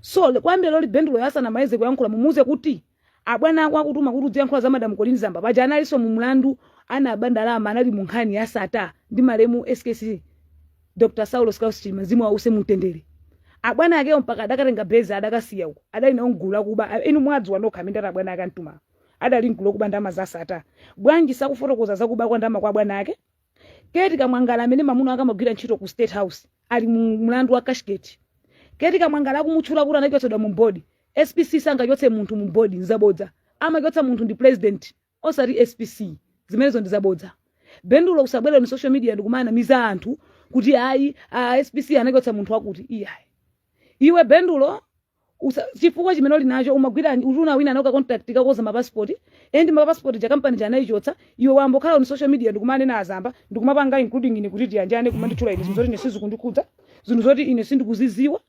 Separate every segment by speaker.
Speaker 1: so le- kwambiri loli bendulo asanamalize kuyankhula mumuuze kuti abwana ako akutuma kuti udziyankhula za Madam Colleen Zamba paja analinso mu mlandu anaba ndalama anali mu nkhani ya sata ndi malemu skc dr saulos klaus chilima mzimu wawo uuse mumtendere abwana akewo mpaka adakatenga beza adakasiya uko adali nawo mgulu akuba inu mwadziwa nokha amene ati abwana ake antuma adali mgulu okuba ndalama za sata. Bwanji sakufotokoza za kuba kwa ndalama kwa bwana ake? Kate Kamwangala amene mamuna wake amagwira ntchito ku State House ali mu mlandu wa cashgate. Kate Kamwangala akumutchula kuti anachotsedwa mu board. SPC sangachotse munthu mu board nzabodza. Amachotsa munthu ndi president osati SPC. Zimenezo ndi zabodza. Bendulo usabwere on social media ndikumanamiza anthu kuti ayi a SPC anachotsa munthu wakuti iyayi. Iwe Bendulo Usa- chifukwa chimene uli nacho umagwira utuna wina anawina contract kakoza mapasipoti endi mapasipoti ja kampani ja anaichotsa iwe wangokhala on social media ndikumanena azamba ndikumapanga including ine Kuthyanjane kumanditchula ine zinthu zoti ine sizikundikhudza zinthu zoti ine sindikuziziwa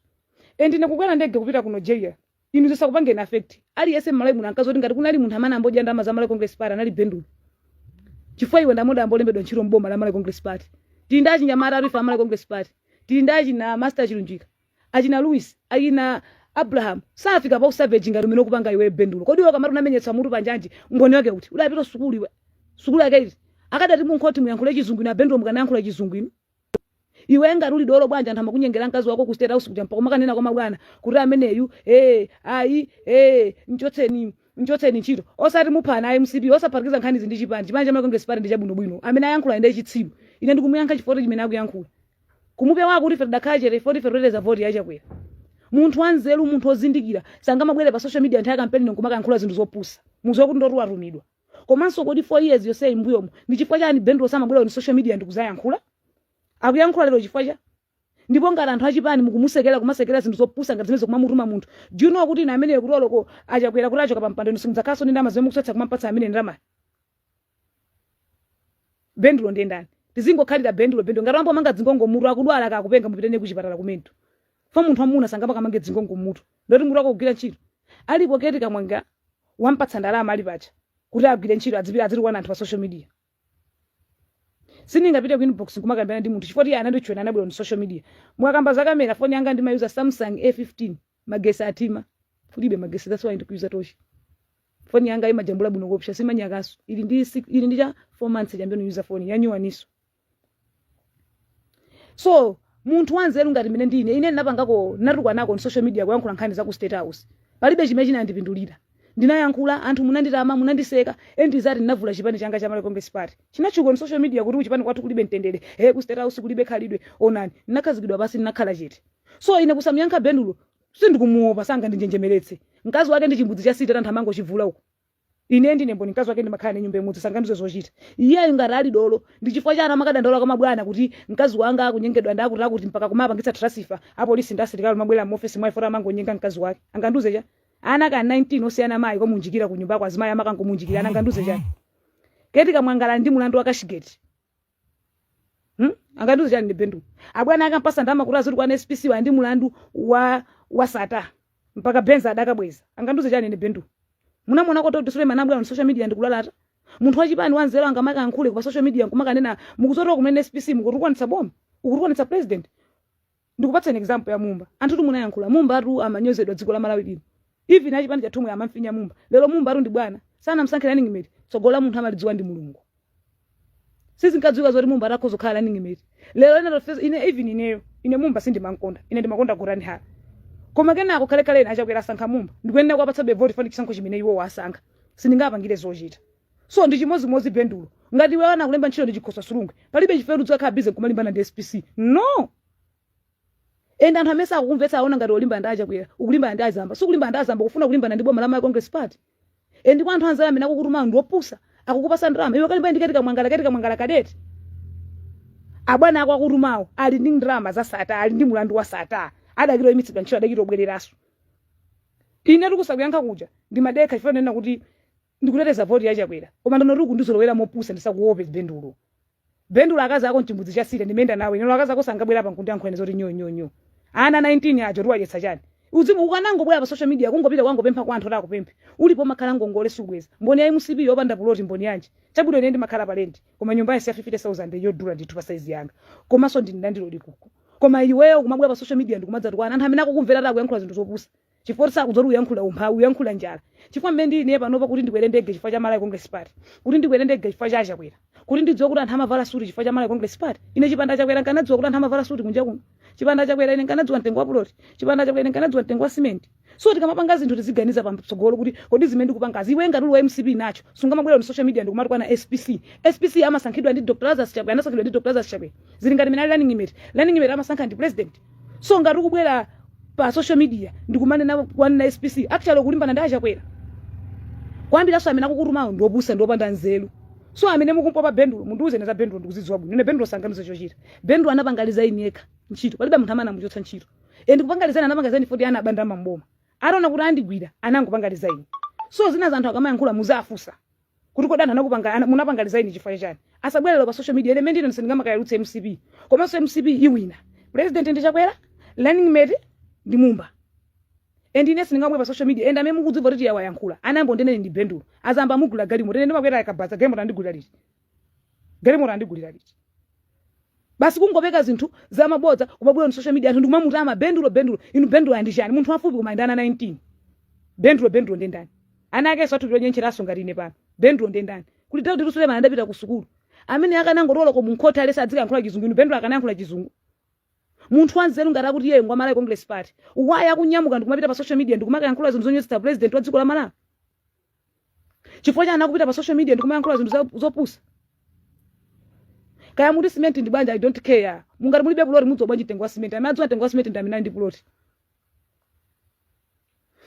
Speaker 1: endi ine kukwera ndege kupita ku nigeria inu zisakupangeni affect aliyense mmalawi muno angadziwe kuti ngati kunali munthu amene angodya ndalama za malawi congress party anali bendulo chifukwa iwe ndi mmodzi wangolembedwa ntchito mboma la malawi congress party tili ndi achinyamata adzife a malawi congress party tili ndi achina master chilunjika achina Luis, achina Abraham safika pa usavage ngati umene ukupangawu iwe bendulo. Kodi iwe ukamati unamenyetsa mutu pa njanji, umboni wake uti? Udapita sukulu iwe? Sukulu yake iti? Akadati munkhoti muyankhule chizungu inu abendulo mukanayankhula chizungu inu? Iwe ngati uli dolo bwanji anthu amakunyengera mkazi wako ku state house kuja mpaka makanena kwa mabwana kuti ameneyu eh ayi eh mchotseni mchotseni ntchito musati muphana a MCP osaphatikiza nkhanizi ndi chipani chipani cha Malawi congress party ndi chabwinobwino amene ayankhula ndi chitsiru ine ndikumuyankha chifukwa chimene akuyankhula kumupewa kuti ife tidakhala chete ife kuti ife tikuteteza voti ya chakwera munthu wanzeru munthu wozindikira sangamabwere pa social media nthawi ya kampeni nkumakayankhula zinthu zopusa muziwa kuti ndoti watumidwa komanso kodi four years yonseyi mbuyomu ndi chifukwa chani bendulo samabwera on social media ndikuzayankhula akuyankhula lero chifukwa cha ndipo ngati anthu achipani mukumusekera kumasekera zinthu zopusa ngati zimenezi kumamutuma munthu do you know kuti ine ameneyo kuti oloko achakwera kuti achoka pampando inu simudzakhalanso ndi ndalama zimene mukutsatsa kumampatsa amene ndalamayo bendulo ndiye ndani tizingokhalira bendulo bendulo ngati ambomanga dzingongo mutu akudwala akupenga mupite naye kuchipatala ku mental for munthu wamuna sangamakamange dzingongo mutu ndoti mutu sukugwira ntchito alipo keti kamwangala wampatsa ndalama ali pacha kuti agwire ntchito adzipita adzitukwana anthu pa social media sindingapite ku inbox kumakambirana ndi munthu chifukwa iye ananditukwana anabwera on social media mwakamba za kamera foni yanga ndimayuza samsung a15 magesi athima kulibe magesi that's why ndikuyuza tochi foni yanga imajambula bwino kopsa si manyakaso ili ndi six- ili ndi cha 4 months chabe ndikuuza foni yanyuwaniso so munthu wanzeru ngati mene ndine ine ndinapangako ndinatukwanako on social media kuyankhula nkhani za ku state house palibe chimene chinandipindulira ndinayankhula anthu munanditama munandiseka endizati ndinavula chipani changa cha Malawi Congress Party chinatchuka on social media kuti kuchipani kwathu kulibe mtendere he ku state house kulibe khalidwe onani ndinakhazikidwa pansi ndinakhala chete so ine kusamuyankha bendulo Sindikumuopa, sangandinjenjemeretse. Mkazi wake ndi chimbudzi cha sitandi anthu amangochivulira uko. Ine ndine mboni mkazi wake ndimakhala naye nyumba imodzi sangandiuze zochita. Iyeyo ngati ali dolo ndi chifukwa chani amakadandaula kwa mabwana kuti mkazi wanga akunyengedwa ndi akuti akuti mpaka kumapangitsa transfer apolisi ndi asilikali amabwera m'ofesi mwa ifota amangonyenga mkazi wake. Angandiuze chani? Ana ka 19 osiyana mayi kumuunjikira ku nyumbako azimayi amakangomuunjikira angandiuze chani? Keti Kamwangala ali ndi mulandu wa cashgate. Hmm? angandiuze chani bendulo abwana akampasa ndalama kuti azitukwana spc ali ndi mulandu wa wa sata mpaka Benz adakabweza angandiuze chani ine bendulo munamuona kuti Dr. Suleiman abwera on social media ndikulalata munthu wachipani wanzeru sangamakayankhule pa social media nkumakanena mukuzitukwana kumene spc mukutukwanitsa boma ukutukwanitsa president ndikupatsani example ya mumba anthutu munayankhula mumbatu amanyozedwa dziko la malawi lino even achipani chathu chomwe amamfinya mumba lero mumbatu ndi bwana anamsankhira running mate tsogolo la munthu amalidziwa ndi mulungu sizinkadziwika zoti mumba atakhoza kukhala running mate lero ine tofesa ine even ineyo ine mumba sindimamkonda ine ndimakonda Gotani Hara koma kenako kalekale achakwera asankha mumba ndikuyenera kuwapatsabe voti fani chisankho chimene iwo wasankha sindingapangire zochita so ndi chimodzimodzi bendulo ngati iwe sanakulembe ntchito ndi Chikosa Silungwe palibe chifukwa kuti udzakhale busy kumalimbana ndi spc no and anthu amene sakukumvetsa aona ngati ukulimbana ndi achakwera ukulimbana ndi azamba sukulimbana ndi azamba kufuna kulimbana ndi boma la Malawi congress party and kwa anthu anzako amene akukutuma anthu opusa akukupasa ndalama iwe kalimbane ndi Keti Kamwangala Keti Kamwangala kadeti abwana ako akutumawo ali ndi ndalama za sata ali ndi mulandu wa sata atha kudzaimitsidwa ntchito atha kudzabwereranso ine kusakuyankha kuja ndimadekha chifukwa ndinena kuti ndikuteteza voti ya chakwera koma ndono ukundizolowera mopusa ndisakuope bendulo bendulo akazi ako nchimbudzi cha sitandi ndimayenda nawo ineyo akazi ako sungabwere pano nkundiyankhula ine zoti nyo nyo nyo ana 19 ajatu uwadyetsa chani uzimu ukanangobwera pa social media kungopita kukangopempha kwa anthu utha kupempha ulipo umakhala ngongole subweza mboni ya mcp yopanda puloti mboni yanji chabwino ine ndimakhala pa lendi koma nyumba yanji ya 50000 yodula ndithu pa saizi yanga komanso ndili ndi plot uku koma iweyo kumabwera pa social media ndikumadzatukwana anthu amene akukumvera ati ukuyankhula zinthu zopusa chifukwa sakudziwa kuti uyankhula umphawi uyankhula njala chifukwa mmene ndili ineyo panopa kuti ndikwere ndege chifukwa cha malawi congress party kuti ndikwere ndege chifukwa cha achakwera kuti ndidziwe kuti anthu amavala suti chifukwa cha malawi congress party ine chipanda achakwera nkanadziwa kuti anthu amavala suti kunja kuno chipanda achakwera ine nkanadziwa mtengo wa puloti chipanda achakwera ine nkanadziwa mtengo wa simenti so tikamapanga zinthu tiziganiza patsogolo kuti kodi zimene ndikupangazi iwe ngati uli wa mcp nawe sungamabwere on social media ndikumatukwana spc spc amasankhidwa ndi dr lazarus chakwera anasankhidwa ndi dr lazarus chakwera zili ngati mene ali running mate running mate amasankha ndi president so ngati ukubwera pa social media ndikumanena kumanena spc actually ukulimbana ndi achakwera kwambiri so amene akukutumawo ndi opusa ndi opanda nzeru so amene mukumpopa bendulo mundiuze ine za bendulo ndikuzidziwa bwino ine bendulo sanganiza chochita bendulo anapanga resign yekha ntchito palibe munthu amene anamuchotsa ntchito and kupanga resign anapanga resign foti anaba ndalama mboma ataona kuti andigwira anangopanga resign so zinazi anthu akamayankhula muziwafusa kuti kodi anthu anakupanga ana- munapanga resign chifukwa cha chani asabwere pa social media element ine sindingamakayalutse mcp komanso mcp iwina president ndi chakwera running mate ndi mumba and ine sindingabwere pa social media and amene mukudziwa kuti yawayankhula anambo ndinene ndi bendulo azamba amugula galimoto ine ndimakwera akabaza galimoto andigulira liti galimoto andigulira liti basi kungopeka zinthu za mabodza kumabwera on social media anthu ndikumamutama bendulo bendulo inu bendulo ali ndi chani munthu wafupi koma ndi ana 19 bendulo bendulo ndi ndani ana akensotu ndi onyentcheranso ngati ine pano bendulo ndi ndani kuti daudi suleman adapita ku sukulu amene akanangotola ko munkhoti alesi adzikayankhula chizungu inu bendulo akanayankhula chizungu munthu wanzeru ngati akuti iyeyo ngwa malawi congress party why akunyamuka ndikumapita pa social media ndikumakayankhula zinthu zonyozetsa president wa dziko la malawi chifukwa chani akupita pa social media ndikumayankhula zinthu za- zopusa kaya muti simenti ndi banja i don't care mungati mulibe puloti mudziwa bwanji mtengo wa simenti amene adziwa mtengo wa simenti ndi amene ali ndi puloti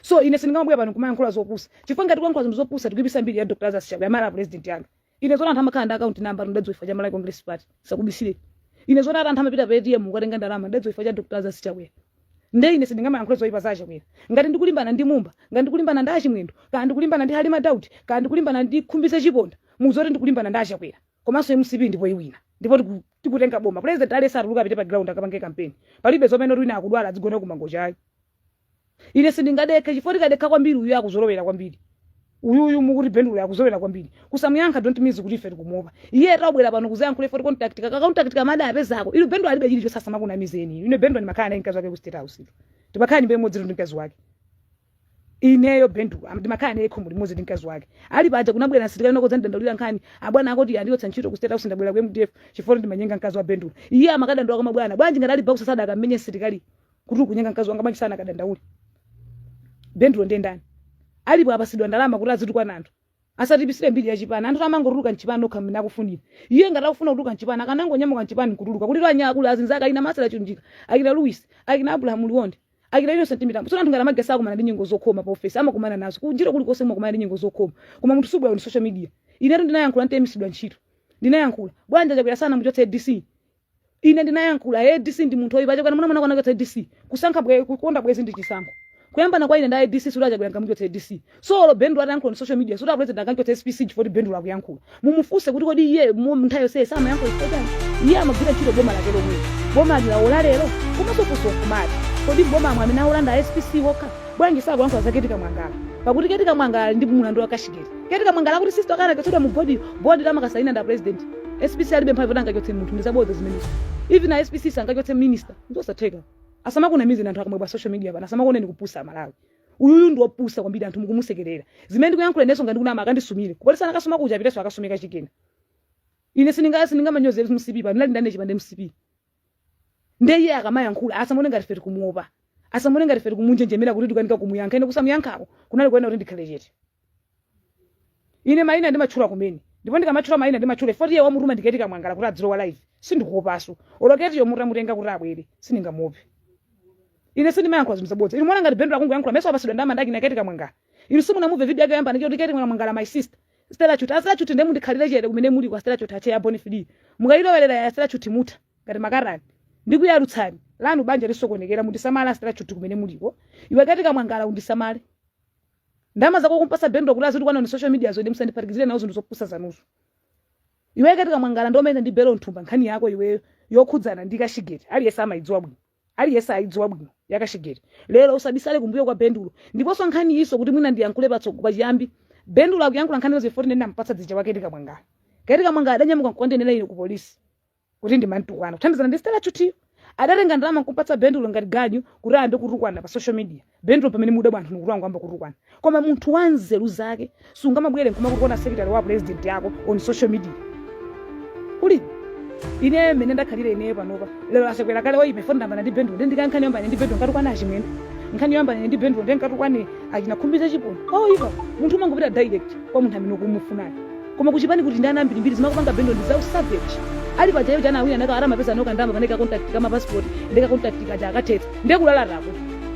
Speaker 1: so ine sindingamabwera pano kumayankhula zopusa chifukwa ngati kuyankhula zinthu zopusa tikuipisa mbiri ya dr lazarus chakwera president yanga ine zoti anthu amakhala ndi akaunti namba ndadziwa chifukwa cha malawi congress party ndisakubisire ine zoti ati anthu amapita pa atm kukatenga ndalama ndadziwa chifukwa cha dr lazarus chakwera nde ine sindingamayankhule zoyipa za achakwera ngati ndikulimbana ndi mumba ngati ndikulimbana ndi achimwendo kana ndikulimbana ndi halima daudi kana ndikulimbana ndi khumbize chiponda muzoti ndikulimbana ndi achakwera komanso mcp ndipo iwina ndipo tiku- tikutenga boma president alesi atuluke apite pa ground akapange kampeni palibe zomanena kuti wina akudwala adzigona kumangocha ayi ine sindingadekhe chifukwa tikadekha kwambiri uyu akuzolowera kwambiri uyuyu mukuti bendulo akuzolowera kwambiri kusamuyankha don't mean kuti ife tikumuopa iye tabwera pano kuzayankhula ife tikontaktika kakontaktika mada apezako inu bendulo alibe chilichonse asamakunamizeni ine bendulo ndimakhala naye mkazi wake ku state house ito timakhala nyumba imodzi ndi mkazi wake ineyo bendulo ndimakhala naye khomo limodzi ndi mkazi wake ali paja kunabwera msilikali kuno kudzandidandaulira nkhani abwana akuti andichotsa ntchito ku state house ndabwera ku mdf chifukwa ndimanyenga mkazi wa bendulo iye amakadandaula kwa mabwana bwanji ngati ali boxer sadakammenye msilikali kuti ukunyenga mkazi wanga bwanji sanakadandaule bendulo ndiye ndani alipo apasidwa ndalama kuti azitukwana anthu asatiipisire mbiri ya chipani anthu amangotuluka mchipani okha mmene akufunira iye ngati akufuna kutuluka mchipani akanangonyamuka mchipani nkutuluka kuti lwanya akulu azinzake akina masala chunjika akina louis akina abrahamu liwonde akina innocent mitambo so anthu ngati amagesa akumana ndi nyengo zokhoma pa ofesi amakumana nazo kunjira kulikonse kumakumana ndi nyengo zokhoma koma munthu subwera on social media inetu ndinayankhula ntaimisidwa ntchito ndinayankhula bwanji achakwera sanamuchotse dc Ine ndinayankhula, ADC ndi munthu oipa, chokani muna mwana kwanu achotse ADC, kusankha bwe, kukonda bwezi ndi chisankho. Kuyambana kwa ine ndi ADC sikuti a Chakwera angamuchotse ADC. So olo Bendulo atayankhula on social media sikuti a president anganchotse SPC chifukwa kuti Bendulo akuyankhula. Mumufunse kuti kodi iye mu nthawi yonse samayankhula chifukwa chani? Iye amagwira ntchito boma lake lomweli. Bomali laola lero, komanso funso nkumati, kodi m'bomamo amene aola nda SPC okha? Bwanji sakuyankhula za Keti Kamwangala? Pakuti Keti Kamwangala ali ndi mulandu wa cashgate. Keti Kamwangala akuti sister wake anachotsedwa mu board yo? Board yo amakasaina nda president? SPC alibe mphamvu yoti angachotse munthu ndizabodza zimenezo. Even a SPC sangachotse minister. Nzosatheka. Asamakunamizeni anthu akamwe pa social media pano asamakuoneni kupusa a Malawi. Uyuyu ndi wopusa kwambiri anthu mukumusekerera. Zimene ndikuyankhula ineso ngati kunama akandisumire. Kupolisi anakasuma kuja apiteso akasume kachikena. Ine sindinga sindingamanyozere mcp pano ndinali ndane chipande mcp. nde iye akamayankhula asamaone ngati ife tikumuopa asamaone ngati ife tikumunjenjemera kuti tikukanika kumuyankha ine kusamuyankhako kunali kuyenera kuti ndikhale chete ine mayina ndimatchula kumene ndipo ndikamatchula mayina ndimatchula ifoti iye wamutuma ndi keti kamwangala kuti adzilowa live sindikuopaso olo ketiyo mutamutenga kuti abwere sindingamuope ine sindimayankhula zinthu zabodza inu mwaona ngati bendulo akungoyankhula meso apasidwa ndama ndi akina keti kamwangala inu simunamumve video yake yoyamba ndi keti kamwangala my sister stela chuti a stela chuti ndiye mundikhalire chete kumene muliko a stela chuti ache ya boni fidi mukailowerera ya stela chuti mutha ngati makatani ndikuyalutsani lanu banja lisokonekera mundisamale stela chuti kumene muliko iwe keti kamwangala undisamale ndama zako ukumpasa bendulo kuti azitukwana pa social media zo nde musandiphatikizire nawo zinthu zopusa zanuzo iwe keti kamwangala ndomene ndi belo nthumba nkhani yako iweyo yokhudzana ndi cashgate aliyense amayidziwa bwino aliyense ayidziwa bwino ya cashgate lero usabisale kumbuyo kwa bendulo ndiponso nkhani iyiso kuti mwina ndiyankhule patsogolo pachiyambi bendulo akuyankhula nkhani izo ifoti ndinena mpatsa dzija wa keti kamwangala keti kamwangala adanyamuka nkukandinenera ine ku polisi kuti ndimantukwana kuthandizana ndi stela chutiyo adatenga ndalama nkupatsa bendulo ngati ganyu kuti ayambe kutukwana pa social media bendulo pamene mudabwa anthu nikuti wangoyamba kutukwana koma munthu wa nzeru zake sungamabwere nkumatukwana secretary wa president yako on social media kuli ine mene ndakhalira ineyo panopa lero a chakwera akhale oyipa ifo ndayambana ndi bendulo ndi ndikankhani yambana ndi bendulo nkatukwane a chimwendo nkhani yambana ndi bendulo ndi nkatukwane achina khumbize chiponda oyipa munthu umangopita direct kwa munthu amene ukumufunayo Koma kuchipani kuti ndi ana ambirimbiri zimene akupanga bendulo ndi za u savage. Ali paja iwo chani awina naka aramapeza noka ndalama paneka contract ka ma passport ndi ka contract kaja akathetsa nde kulalataku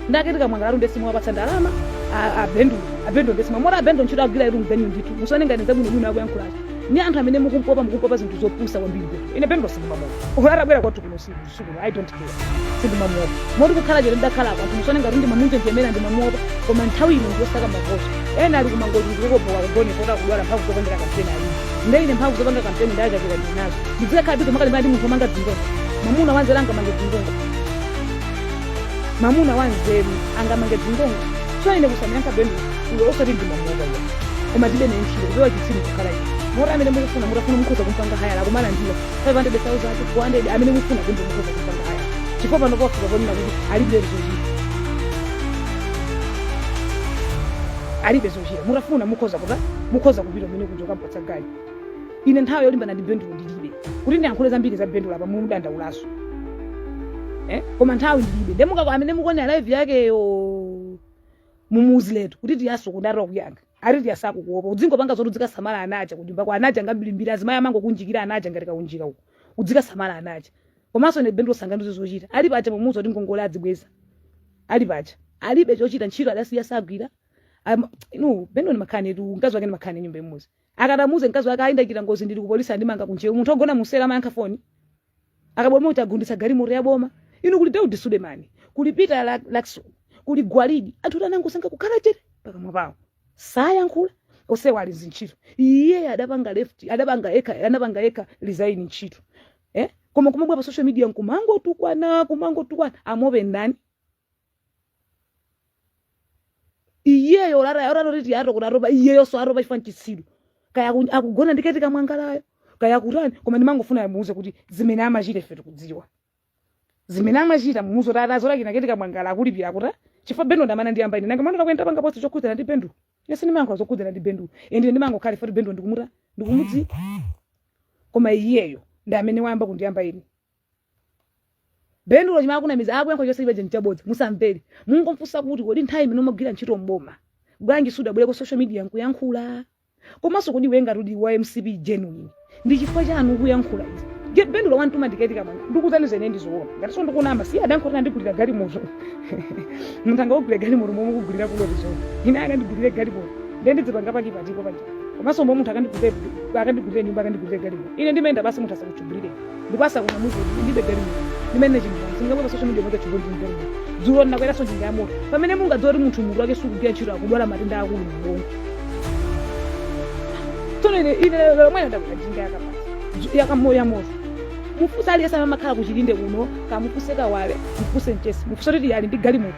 Speaker 1: nda keti kamwangalatu nde simuwapatsa ndalama a, a bendulo a bendulo nde simwa mora a bendulo ntchito agwira iru mganyu ndithu musaone ngati zabwino bwino akuyankhulazo ni anthu amene mukumpopa mukumpopa zinthu zopusa kwambiri bendulo ine bendulo sindimamuopa olo atabwera kwathu kuno usiku usiku uno i don't care sindimamuopa moti kukhala chete ndidakhala apa musaone ngati ndimamunjenjemera ndimamuopa koma nthawi ino ndiyosaka mavoti ena ali kumangoti ndikukopoka kugone kota kudwala mphamvu zopangera kampeni ayi nde ine mphamvu zopanga kampeni ya chakwera ndinazo ndidzikakhala busy kumakalimbana ndi munthu omanga dzingongo mamuna wanzeru angamange dzingongo mamuna wanzeru angamange dzingongo so ine kusamuyankha benduloyo osati ndimamuopa iye koma ndibe naye ntchito kupewa chitsiru kukhala ine moti amene mukufuna mutafuna mukhoza kumpanga hayala kumalandira 500,400 amene mufuna Bendulo mukhoza kumpanga haya chifukwa pano pafika ponena kuti alibe zochita alibe zochita mutafuna mukhoza kuta mukhoza kupita umene kuti mukampatsa ganyu ine nthawi yolimbana ndi Bendulo ndilibe kuti ndiyankhule zambiri za Bendulo apa mumudandaulaso eh? koma nthawi ndilibe nde mukako amene mukuonera live yakeyo mumuuziletu kuti Tiyaso kuti atopa kuyankha ali Tiya sakukuopa udzingopanga zoti udzikasamala ana aja kunyumba kwa ana aja ngambirimbiri azimayi amangokunjikira ana aja ngati kaunjika uko udzikasamala ana aja komanso ine Bendulo sangandiuze zochita ali paja pomuuza kuti ngongole adzibweza ali paja alibe chochita ntchito adasiya sagwira Am- inu Bendulo ndi makhani tu mkazi wake ndi makhani nyumba imodzi akadamuuza mkazi wake ayindakira ngozi ndili kupolisi andimanga kunjewa munthu ogona mu cell amayankha foni akaboma atagunditsa galimoto ya boma inu kuli Daudi Sulemani kuli Peter La- Lakson kuli Gwaladi anthu anangosankha kukhala chete pakamwa pawo sayankhula onsewa ali mzintchito iye adapanga left adapanga yekha anapanga yekha resign ntchito eh? koma kumabwera pa social media nkumangotukwana kumangotukwana amuope ndani iyeyo olataya otati kuti Tiyaso kuti atopa iyeyonso atopa chifukwa nchitsiru kaya aku- akugona ndi Ketty Kamwangalayo kaya akutani koma ndimangofuna mumuuze kuti zimene amachita ife tikudziwa zimene amachita mumuuze kuti ati azolakina Ketty Kamwangala akulipira akutani chifukwa Bendulo ndi amene anandiyamba ine nanga munaonako ine ndapanga post chokhudzana ndi Bendulo ine sindimayankha zokhudzana ndi Bendulo ende ndimangokhala ifoti Bendulo ndikumuta ndikumudziwa koma iyeyo ndi amene wayamba kundiyamba ine Bendulo chimene akunamiza akuyankhula chonse chimenechi nchabodza musamvere mungomufunsa kuti kodi nthawi imene umagwira ntchito mboma bwanji sudabwere ku social media nkuyankhula komanso kodi iwe ngati uli wa MCP genuine ndi chifukwa chani ukuyankhula izi Je- Bendulo wamtuma ndi Ketty Kamwangala ndikuuzani zimene ndizoona ngati so ndikunama si adanenanso kuti anandigulira galimoto munthu angakugulire galimoto momwe kugulira kuloti zona ine akandigulire galimoto ndiye ndidzipanga pachipatiko paja komanso momwe munthu akandigulire akandigulire nyumba akandigulire galimoto ine ndimayenda basi munthu asakukugulire ndipo asakunamize kuti ndilibe galimoto ndimene chimvani sindingabwere pa social media mwake chigoli chimvani dzulo ndakweranso njinga ya moto pamene mungadziwe kuti munthu mutu wake sukugwira ntchito akudwala matenda akulu mubongo tsono ine ine lero lomwe ndakwera njinga yakabaza yakamo ya moto mufunse aliyense amene amakhala ku Chilinde kuno kamufunse Kawale mufunse Mchesi mufunse kuti Tiya ali ndi galimoto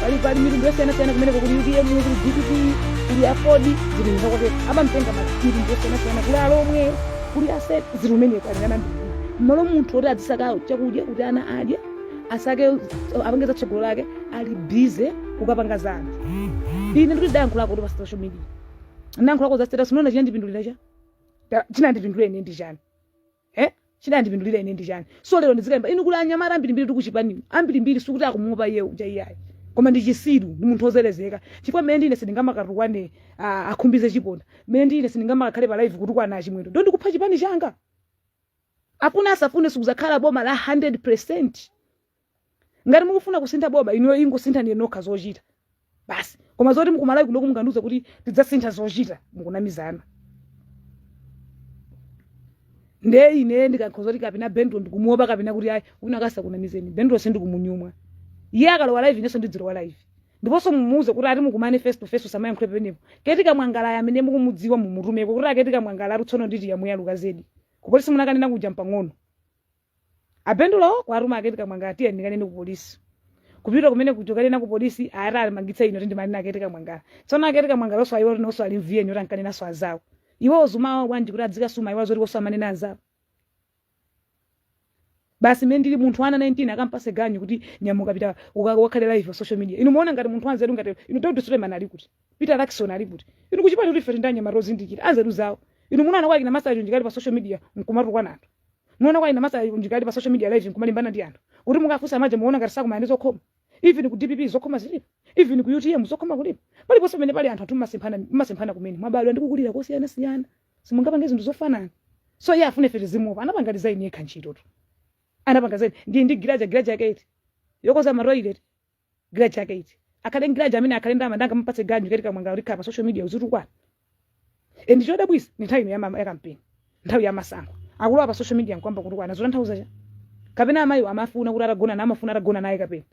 Speaker 1: pali pali mitundu yosiyanasiyana kumeneko kuli UTM kuli DPP kuli AFORD zili mnda kwake amamtenga mitundu yosiyanasiyana kuli alomwe kuli asena zili kumeneko ali ndi ana ambiri mmalo munthu oti adzisaka chakudya kuti ana adye asake apange za tsogolo lake ali busy kukapanga za anthu ine ndikuti ndayankhulako kuti pa social media ndayankhulako za status unaona chinandipindulira cha Ta- chinandipindulira ine ndi chani eh chinandipindulira ine ndi chani so lero ndizikamba inu kuli anyamata ambirimbiri tu kuchipani ambirimbiri sikuti akumuopa iye uja iyayi koma ndi chisiru ndi munthu ozelezeka chifukwa mmene ndine sindingamakatukwane ah, akhumbize chiponda mmene ndine sindingamakakhale pa live kutukwana achimwendo nde ndikupha chipani changa afune asafune sikuzakhala boma la 100 ngati mukufuna kusintha boma inuyo ingosinthani nokha zochita basi koma zoti kumalawi kunoko mungandiuza kuti tidzasintha zochita mukunamizana nde ine ndikakhoza kuti kapena bendulo ndikumuopa kapena kuti ayi wina wake asakunamizeni bendulo sindikumunyumwa iye akalowa live inenso ndidzilowa live ndiponso mumuuze kuti ati mukumane face to face usamayankhule penepo keti kamwangalayo amene mukumudziwa mumutumeko kuti aketi kamwangala ati tsono nditi yamuyaluka zedi kupolisi munakanena kuja mpang'ono abendulo kuwatuma aketi kamwangala tiye ndikanene ku polisi kupita kumene kukanena ku polisi ati andimangitsa ine kuti ndimanena aketi kamwangala tsono aketi kamwangala oswa iwo tinonso ali m'VN kuti ankanenanso anzawo iwo uzumawo bwanji kuti adzikasuma iwo zoti koso amanena anzawo basi mene ndili munthu wa ana 19 akampatse ganyu kuti nyamuka pita uka- ukakhale live pa social media inu muona ngati munthu anzeru ngati inu Daudi Suleiman ali kuti Peter Jackson ali kuti inu kuchipani kuti ife tili ndi anyamata ozindikira anzeru zawo inu munaona kwa kina masaji njikali pa social media nkumatukwana anthu Muona kwa ina masa ndikali pa social media live nkumalimbana ndi anthu. Kuti mukafunsa maje muona ngati sakumana ndi zokhoma. Even ku DPP zokhoma zilipo. Even ku UTM zokhoma kulipo. Pali ponse pamene pali anthu athu mmasemphana mmasemphana kumene. Mwabadwa ndi kukulira kosiyana siyana. Simungapange zinthu zofanana. So iye afune ife tizimuopa. Anapanga resign yekha ntchito tu. Anapanga resign. Ndi ndi giraja giraja yake iti. Yokoza ma toilet. giraja yake iti akhale ndi giraja amene akhale ndama ndanga mupatse ganyu keti kamwangala uzikhala pa social media uzitukwana e ndi chodabwisa ndi nthawi ino ya ma- ya kampeni nthawi ya masankho akulowa pa social media nkuyamba kutukwana zotanthauza cha kapena amayi amafuna kuti atagona naye amafuna atagona naye kapena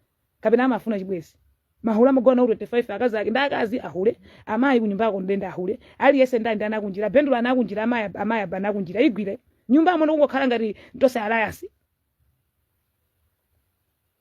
Speaker 1: kapena amafuna chibwenzi mahule amagona nawo 25 akazi ake ndi akazi ahule amayi kunyumba yako ndende ahule aliyense ndani ana akunjira bendulo ana akunjira amayi amayi abana akunjira igwire nyumba amona kungokhala ngati tonse alliance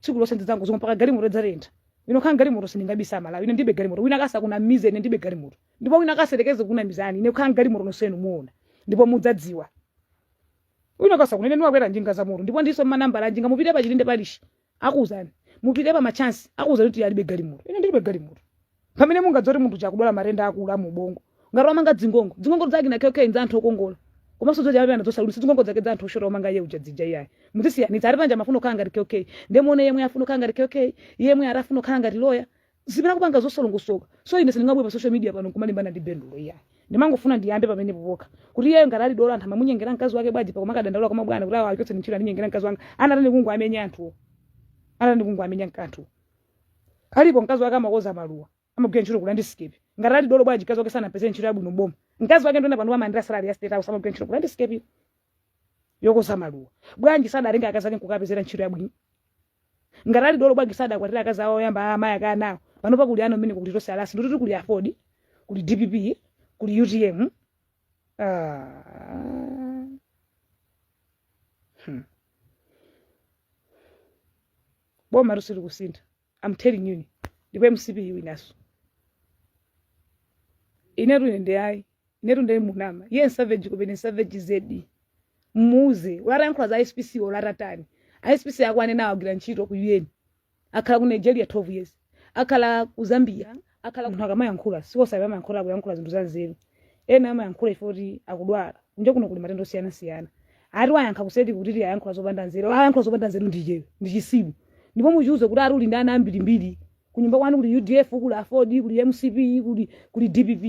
Speaker 1: tsiku lonse ndidzangozunga mpaka galimoto idzatentha ine kukhala ndi galimoto sindingabisa amalawi ine ndibe galimoto wina wake asakunamize ine ndibe galimoto ndipo wina wake asayerekeze kukunamizani ine kukhala ndi galimoto nonsenu muona ndipo mudzadziwa wina wake asakunene ndimakwera njinga za moto ndipo ndiso manambala njinga mupite pa chilinde palishi akuuzani mupite pa machansi akuuzani kuti alibe galimoto ine ndilibe galimoto pamene mungadziwa kuti munthu uja akudwala matenda aakulu a mu ubongo ngati wamanga dzingongo dzingongo zake na kk nza anthu okongola komanso zoja amene anadzosalulisa dzingongo zake za anthu oshota wamanga iye uja dzija iyayi muzisiyanitsa ati paja amafuna kukhala ngati kk ndiye muone yemwe afuna kukhala ngati kk yemwe ati afuna kukhala ngati loya zimene kupanga zosolongosoka so ine sindingabwere pa social media pano nkumalimbana ndi bendulo iyayi ndimangofuna ndiyambe pamenepo pokha kuti iyeyo ngati ali dolo anthu amamunyengera mkazi wake bwanji mpaka kumakadandaula kwa mabwana kuti awa achotse ntchito andinyengera mkazi wanga anatani kungowamenya anthuwo anatani kungowamenya anthuwo Alipo mkazi wake amakoza maluwa. Amagwira ntchito ku landscape. Ngati ali dolo bwanji mkazi wake sanapezere ntchito yabwino m'boma. Mkazi wake ndona pano amandira salary ya state house amagwira ntchito ku landscape yokoza maluwa. Bwanji sadatenga akazi ake nkukapezera ntchito yabwino. Ngati ali dolo bwanji sadakwatira akazi awo oyamba amayi ake anawo. Pano pakuli ana mmene kuti tonse alasi ndikuti kuli AFORD kuli DPP kuli UTM. Ah. Hmm. bomatu silikusintha am telling you ndipo mcp iwinaso inetu nde ayi inetu nde munama iye nsavage kupena nsavage zedi mmuuze walankhula za spc olatani aspc akuwanenawo agwira ntchito ku un akhala ku nigeria 12 years akhala ku zambia akhala munthu akamayankhula siwosabe amayankhula akuyankhula zinthu zanzeru ena amayankhula chifukwa choti akudwala kunja kuno kuli matenda osiyanasiyana ati wayankha kuseti kuti ayankhula zopanda nzeru ayankhula zopanda nzeru ndi icheyo ndi chitsiru ndipo muchiuze kuti ali uli ndi ana ambirimbiri kunyumba kwanu kuli udf kuli aford kuli mcp kuli kuli dpp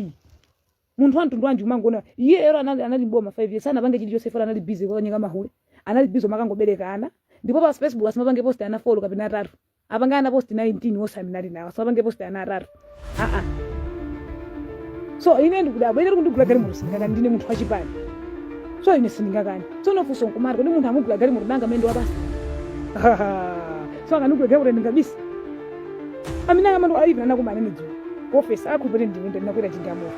Speaker 1: munthu wamtundu wanji umangoona iyeyo anali anali mboma 5 years sanapange chilichonse folo anali busy kukanyenga mahule anali busy kumangobereka ana ndipo pa facebook asamapange post ana folo kapena atatu apange ana post 19 wose amene ali nawo asapange post ana atatu aa so ine ndikudabwa ine kundigula galimoto sindingakani ndine munthu wachipani so ine sindingakani tsopano funso nkumati kodi munthu amugula galimoto nanga mene ndawabisa so akandigula galimoto ndingabisa amene aka mwano aIP ndinakumana nawo dzulo ofesi akhupire ndimunda ndinakwera chindamoto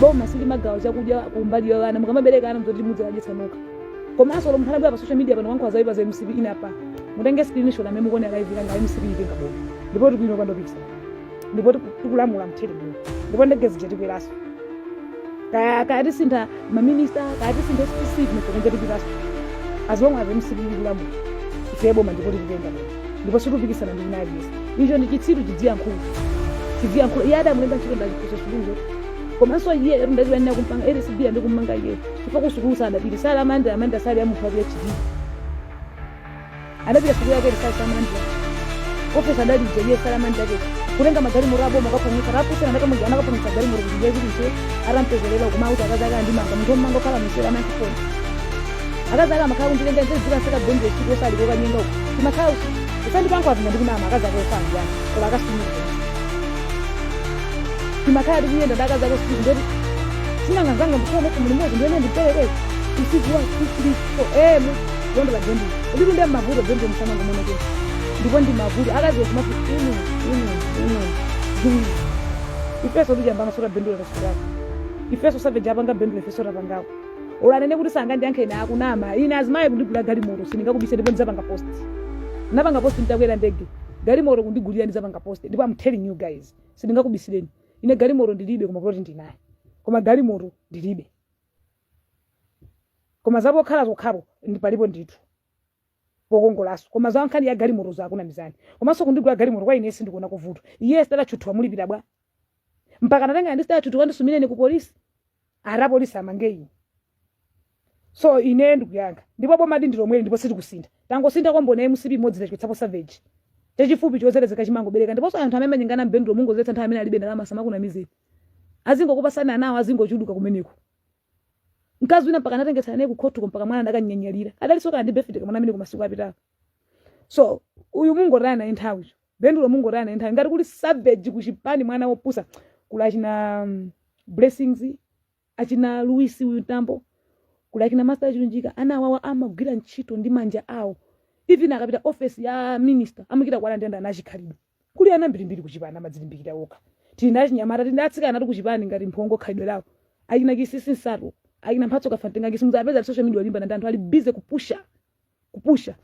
Speaker 1: boma silimagawa chakudya kumbali ya ana mukamabereka ana ndzoti mudzikadyetsa nokha komanso lomwe mkanabwera pa social media pano kuyankhula zayipa za mcp ineyo pano mutenge screenshot amene mukuona live yanga mcp itenga boma ndipo tikuwina pandopisa ndipo tiku- tikulamula mtendere boma ndipo ndege zija tikweraso kaya kaya tisintha maminista kaya tisintha spc mutenge tikweraso as long as mcp ikulamula muno ife boma ndipo tikutenga muno ndipo situpikisana ndi wina aliyense icho ndi chitsiru chidziyankhula chidziyankhula iye adamulemba ntchito ndachifundo chilungo komanso iyeyo ndachiwanira kumpanga lcb angomumanga iye chifukwa kusukulu sadapite sali amanda amanda sali amunthu wa phd anapita siku yake risali salamandira ofesa adali mjejee salamandira ke kutenga magari mura aboma akaponyesa rapusana anakamuja anakaponyesa gari mura kuti jezi kuti arampezelera kuma kuti akazi ake andimanga munthu omanga okhala misera amakifoni akazi ake amakhala kundilenga nze zira saka bende siku osali koka nyenda uko timakhala usi usandi pangu apinda ndi kunama akazi ake osali yani kola akasimira timakhala tikuyenda ndi akazi ake usiku ndoti sinanga zanga ndikhala kuti muli mwezi ndiyene ndipeleke usiku wa 2 3 4 eh Bondo la Bondi. Ulipo ndio mavuto Bondi msana kwa mwana kesi. Ndipo ndi mavuto. Akazi wa kumafu inu inu inu. inu. Ifeso tuja mbama sura Bondi la sura. Ifeso save jabanga Bondi ifeso rabangao. Olo anene kuti sanga ndi ankhena akunama. Ine azimaye kundigula galimoto sindingakubise ndipo ndizapanga post. Napanga post nditakwera ndege. Galimoto kundigulira ndizapanga post. Ndipo I'm telling you guys. Sindingakubisireni. Ine galimoto ndilibe koma kuti ndinaye. Koma galimoto ndilibe. koma za pokhala zokhapo ndi palipo ndithu pokongolanso koma za nkhani ya galimoto zakunamizani komanso kundigula galimoto kwa ine sindikuona kuvuta iye sitatachuthuwa mulipira bwa mpaka natenga ndi sitatachuthuwa ndisumireni ku polisi ara polisi amange ine so ine ndikuyankha ndipo boma ndi lomweli ndipo sitikusintha tangosintha kwambona ya mcp imodzi tachichotsapo savage chachifupi chozelezeka chimangobereka ndiponso anthu amene amanyengana bendulo mungozetsa nthawi amene alibe ndalama asamakunamizeni azingokupasani anawo azingochuluka kumeneko mkazi wina mpaka anatengetsana naye kukhotiko mpaka mwana ndakanyanyalira adalinso kana ndi befide kamwana amene kumasiku apitawo so uyu mungotaya naye nthawi cho bendulo mungotaya naye nthawi ngati kuli savage kuchipani mwana wopusa kuli achina blessings achina luwisi uyu tambo kuli achina master chilunjika ana awawa amagwira ntchito ndi manja awo even akapita office ya minister amachita kuwala nde ndi ana achikhalidwe kuli ana mbirimbiri kuchipani amadzilimbikira okha tili ndi achinyamata tili ndi atsikanatu kuchipani ngati mphongo khalidwe lawo achina chisisi nsatu achina mphatso kafantenganji simuzawapeza ali social media kulimbana ndi anthu ali busy kupusha kupusha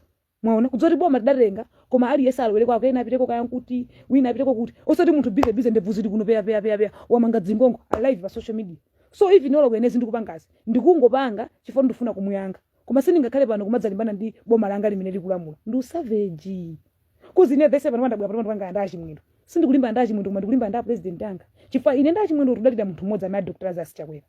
Speaker 1: mwaona kudzoti boma tidatenga koma aliyense alowere kwake ena apiteko kaya nkuti wina apiteko kuti osati munthu busy busy ndebvu zili kuno peya peya peya peya wamanga dzingongo ali live pa social media so even olo kuyenezi ndikupangazi ndikungopanga chifukwa ndifuna kumuyankha koma sindingakhale pano kumadzalimbana ndi boma langa limene likulamula ndi usavage coz ine vese pano pandabwera pano pandipanga ndi a chimwendo sindikulimbana ndi a chimwendo koma ndikulimbana ndi a president anga chifukwa ine ndi a chimwendo tudalira munthu mmodzi amene a dr lazarus chakwera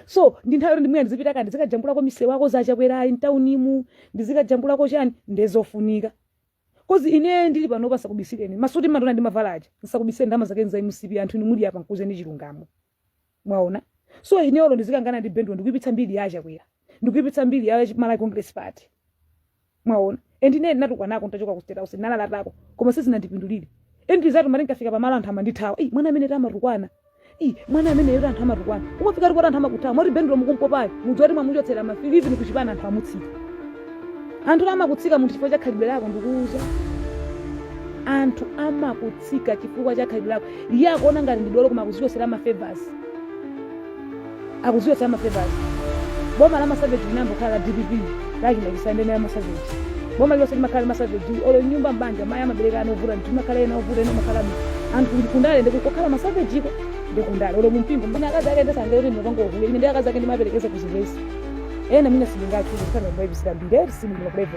Speaker 1: so ndi nthawi yoti ndi mwina ndizipita kani ndizikajambulako misewu akonza achakwerayi mtaunimu ndizikajambulako chani nde zofunika coz ine ndili pano nsakubisireni masuti mmandiona ndimavala aja nsakubisireni ndama zake nza mcp anthu inu muli apa nkuuzeni chilungamo mwaona so ine olo ndizikangana ndi bendulo ndikuipitsa mbiri ya achakwera ndikuipitsa mbiri ya malawi congress party mwaona and ine ndinatukwanako ntachoka ku state house ndinalalatako koma sizinandipindulire and ndizatu mati ndikafika pamalo anthu amandithawa "Ei, mwana amene amatukwana Ii, mwana amene yoti anthu amatukwana umafika kuti anthu amakuthawa moti bendulo mukumpopayo mudziwe kuti mwamuchotsera mafili even kuchipani anthu amutsika anthu oti amakutsika munthu chifukwa cha khalidwe lako ndikuuza anthu amakutsika chifukwa cha khalidwe lako iye akuona ngati ndi dolo koma akuzichosera ma favors akudziwetsa amafebazi boma la masaveji linambo khala la dpp laki machisandenera masaveji boma lilonse limakhala masaveji olo mnyumba mbanja mayi amabereka ana ovuta ndithu mmakhala ena ovuta ena amakhala anthu ndi kundale ndi kokhala masavejiko ndi kundale olo mumpingo mbona akazi ake ndesanga kuti ndinopanga uhule ine ndi akazi ake ndimaperekeza kuzivesi ena mina sindingathu ndisanga mbaibisira mbiri eti sindinakubaibu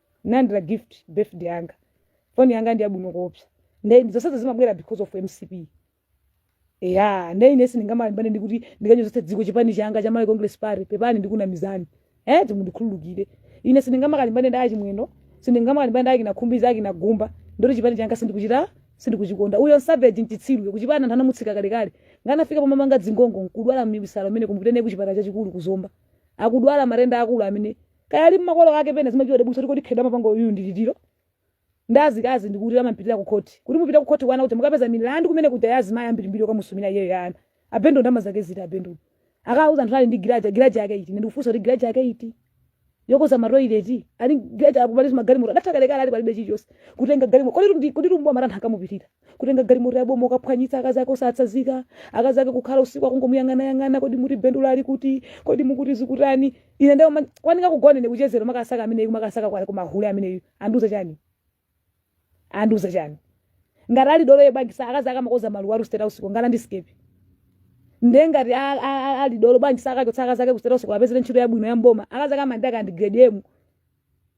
Speaker 1: Nalandira gift birthday yanga. Phone yanga ndi yabwino koopsa. Nde zonsezi zimabwera because of mcp. Eya, nde ine sindingamalimbane ndi kuti ndikanyozetse dziko chipani changa cha Malawi Congress Party, pepani ndikunamizani. Eh, timundikhululukire. Ine sindingamakalimbane ndi achimwendo, sindingamakalimbane ndi akina khumbi za akina gumba, ndoti chipani changa sindikuchita sindikuchikonda. Uyo savage nchitsiru kuchipani anthu anamutsitsa kalekale. Nganafika pomamanga dzingongo akudwala misala ameneyo kumupititse kuchipatala chachikulu kuzomba. Akudwala matenda akulu amene kaya ali mmakolo ake pena zimatidabwitsa tikoti khedwa mapanga uyu ndi litiro ndi azikazi ndikuti amampitira ku khoti kuti mupita ku khoti kwana kuti mukapeza milandu kumenekuja yazimayi ambirimbiri okamusumira iyeyo ya ana a bendo ndama zake ziti abendo akauza anthu ali ndi galaji galaji yake iti ndikufunsa kuti galaji yake iti yokonza maroileti ali galaji apo pali magalimoto adatha kalekale ali palibe chilichonse kutenga galimoto kodi ndi kodi rumbo amathatha akamupitirira kutenga galimoto yaboma kukaphwanyitsa akazi ake osatsazika akazi ake kukhala usiku akungomuyang'anayang'ana kodi muti bendula ali kuti kodi mukuti zikutani ine ndayamba kukanika kugona ine kuchezera makasaka ameneyu makasaka kwa- kumahule ameneyu andiuza chani andiuza chani ngati ali dolo yebangisa akazi ake amakonza maluwa ali ku state house ngana ndi skepi nde ngati a- a- a- ali dolo bangisa akachotse akazi ake ku state house awapezere ntchito yabwino ya m'boma akazi ake amandaka ndi grade emu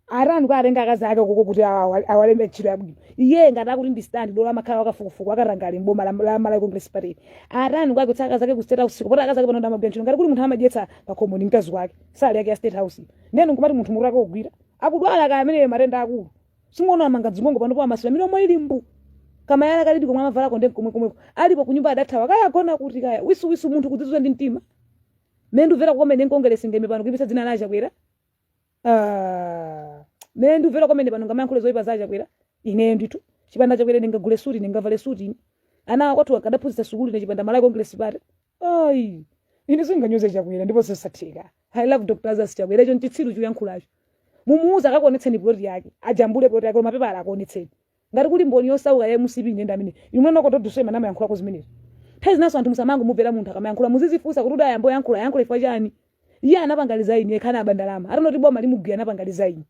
Speaker 1: akanika kuwatenga akazi ake koko kuti awa- awalembe ntchito yabwino iye ngati akuti ndi stand dola amakhala wakafukufuku akadali mboma la la Malawi Congress Party akanika kuwachotsa akazi ake ku state house kupota akazi ake pano ndi amagwira ntchito ngati kuti munthu amadyetsa pa khomo ndi mkazi wake salary yake ya state house neno nkumati munthu mutu wake wogwira akudwala kaya amene matenda akulu simukuona amanga dzingongo panopo amasula milomo ili mbu kama yala kalidi komwe amavala konde komwe komwe alipo kunyumba adathawa kaya agona kuti kaya wisuwisu munthu kudzizwa ndi mtima mene mukumvera kukomene mu congress ndeme pano kuipitsa dzina la chakwera Ah, mene ndumvera komene pano ndingamayankhule zoyipa za chakwera ineyo ndithu chipanda chakwera ndingagule suti ndingavale suti ine ana kwathu ndikadaphunzitsa sukulu ine chipanda malawi congress party ayi ine sindinganyoze chakwera ndipo nzosatheka i love dr lazarus chakwera icho nchitsiru chuyankhulacho mumuuze akakuonetseni ploti yake ajambule ploti yake koma pepala akuonetseni ngati kuli mboni yosauka ya mcp ine ndi amene imwe noko todusema namayankhulako zimenezo nthawi zinaso anthu musamangomumvera munthu akamayankhula muzizifunsa kuti udaayamba kuyankhula yankhula chifukwa chani iye anapangaliza ine ekhana abandalama atanoti boma limugwira anapangaliza ine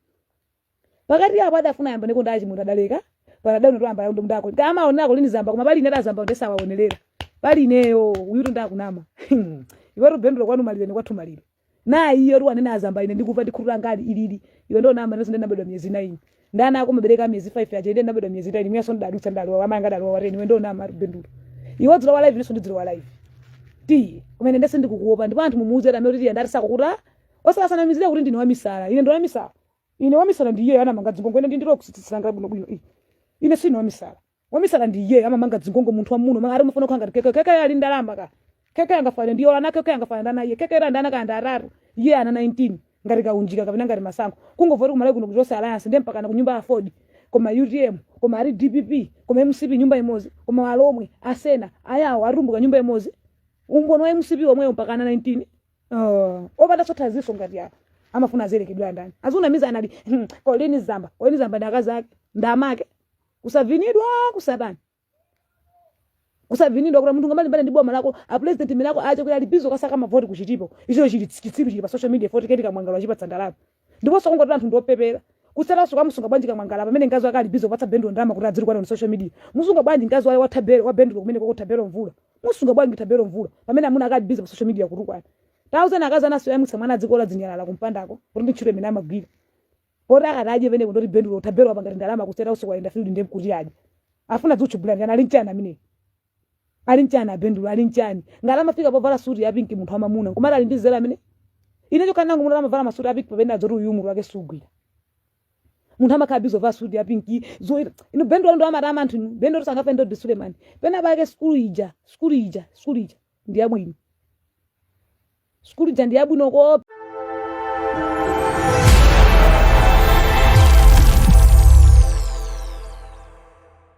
Speaker 1: pakati apo adafuna ayamba ndiko ndachi munthu adaleka panadano to amba yondo mndako kama onako lini zamba koma pali ine adazamba ndesa waonelera pali ineyo uyutu ndi akunama iwe bendula kwanu malire ni kwathu malire nayi iyo ruwa nene azamba ine ndikufa ndikhulula ngati ilili iwe ndi namba nenso ndinabadwa miyezi 9 ndi ana akumabereka miyezi 5 aja ine ndinabadwa miyezi 9 mayeso ndidadutsa ndalowa amanga ndalowa wareni iwe ndi namba bendulo iwe dzula wa live nenso ndidzula wa live tiye kumene nde sindikukuopa ndipo anthu mumuuze dame kuti tiye ndati sakukuta asazinamizire kuti ndine wamisala ine ndi wamisala ine wamisala ndi iye anamanga zingongo ine ndili kutsitsi langa bwino bwino ine sindine wamisala wamisala ndi iye amamanga zingongo munthu wamwamuna amangati amafuna kukhala ngati keke keke ali ndalama ka keke angafane ndi iyo ana keke angafane naye iye keke ali ndi ana kaya atatu iye ana 19 ngati kaunjika kapena ngati masankho kungovoti kumalawi kuno kuchose alliance ndiye mpakana kunyumba ya ford koma utm koma a dpp koma mcp nyumba imodzi koma alomwe asena ayawo atumbuka nyumba imodzi umboni wa mcp womwewo mpaka ana 19 opanda chothandizanso ngati apo amafuna aberekedwe ndi ndani azitinamiza anali "Hmm, kolini zamba kolini zamba ndi akazi ake ndamake kusavinidwa kusatani kusavinidwa kuti munthu ungamalimbane ndi boma lako a president ndi lako Chakwera kuti ali busy kusaka mavoti kuchitipa icho chili chitsiru chili pa social media poti keti kamwangala wachipatsa ndalama ndiponso ngati anthu ndiopepera kusatanso ukamusunga bwanji kamwangala pamene mkazi wake ali busy kupatsa bendulo ndalama kuti adzitukwana on social media musunga bwanji mkazi wake wathabero wa bendulo kumeneko kwa thabero mvula musunga bwanji thabero mvula pamene amuna ake ali busy pa social media kutukwana thousand akazi anaso yamwitsa mwana adzitola zinyalala kumpandako kuti ndi ntchito imene amagwira poti akati adye pene ndoti bendulo thabero apangati ndalama kuseta usiku ayenda field ndiye kuti adye afuna kutchukila ndani ali nchani amene ali nchani abendulo ali nchani ngati amafika povala suti ya pinki munthu wamwamuna kumati ali ndi nzeru amene ine chokhala nacho munthu amavala masuti a pinki pamene udziti uyu mutu wake sugwira munthu amakhala busy kuvala suti ya pinki zoyera izo bendulo ndo amati anthu inu bendulo sangafe ndi suleman pena pake skulu ija skulu ija skulu ija ndi yabwino sukulu ija ndi yabwino kope